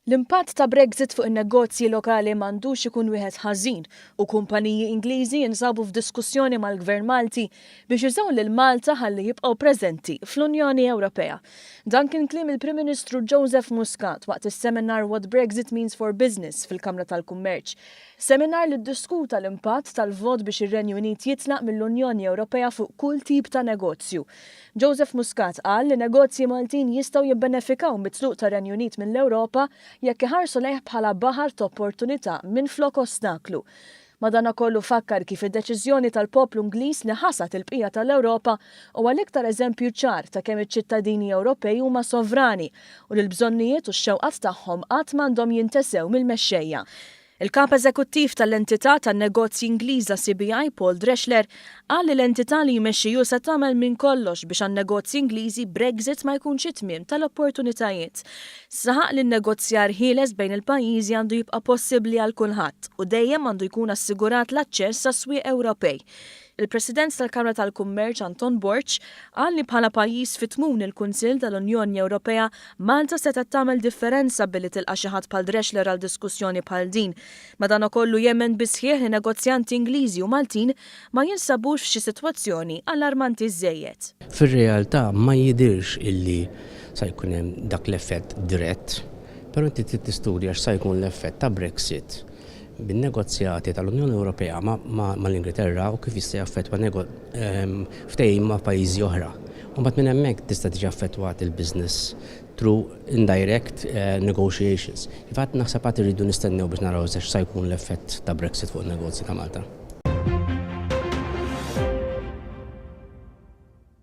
L-impatt ta' Brexit fuq in-negozji lokali m'għandux ikun wieħed ħażin u kumpaniji Ingliżi jinsabu f'diskussjoni mal-Gvern Malti biex jużaw lil Malta ħalli jibqgħu preżenti fl-Unjoni Ewropea. Dan kien kliem il-Prim Ministru Joseph Muscat waqt is-seminar What Brexit Means for Business fil-Kamra tal-Kummerċ. Seminar li ddiskuta l-impatt tal-vot biex ir-Renju Unit jitlaq mill-Unjoni Ewropea fuq kull tip ta' negozju. Joseph Muscat qal li negozji Maltin jistgħu jibbenefikaw mit-tluq tar-Renju Unit mill-Ewropa jekk iħarsu lejh bħala baħar t'opportunità minflok ostaklu. Madanakollu fakkar kif id-deċiżjoni tal-poplu Ingliż li ħasad il-bqija tal-Ewropa huwa l-iktar eżempju ċar ta' kemm iċ-ċittadini Ewropej huma sovrani u li l-bżonnijiet u x-xewqat tagħhom qatt m'għandhom jintesew mill-mexxejja. Il-Kap Eżekuttiv tal-entità tan-negozji Ingliża CBI, Paul Dreschler, qal li l-entità li jmexxi hu se tagħmel minn kollox biex għan-negozji Ingliżi Brexit ma jkunx it-tmiem tal-opportunitajiet. Saħaq li n-negozjar ħieles bejn il-pajjiżi għandu jibqa' possibbli għal kulħadd u dejjem għandu jkun assigurat l-aċċess għas-swieq Ewropej. Il-President tal-Kamra tal-Kummerċ Anton Borg qal li bħala pajjiż fi tmun il-Kunsill tal-Unjoni Ewropea, Malta setgħet tagħmel differenza billi tilqa' xi ħadd bħal Drexler għal diskussjoni bħal din. Madanakollu jemmen bis-sħiħ li negozjanti Ingliżi u Maltin ma jinsabux f'xi sitwazzjoni allarmanti żżejjed. Fir-realtà ma jidhirx illi sa jkun hemm dak l-effett dirett, però inti trid tistudja x'sa jkun l-effett ta' Brexit bin-negozjati tal-Unjoni Ewropea mal-Ingilterra u kif jista' jaffettwa ftehim ma' pajjiżi oħra. U mbagħad minn hemmhekk tista' tiġi affettwat il-business through indirect negotiations. Kif għedt naħseb għad irridu nistennew biex naraw eżatt x'sa jkun l-effett ta' Brexit fuq in-negozji ta' Malta.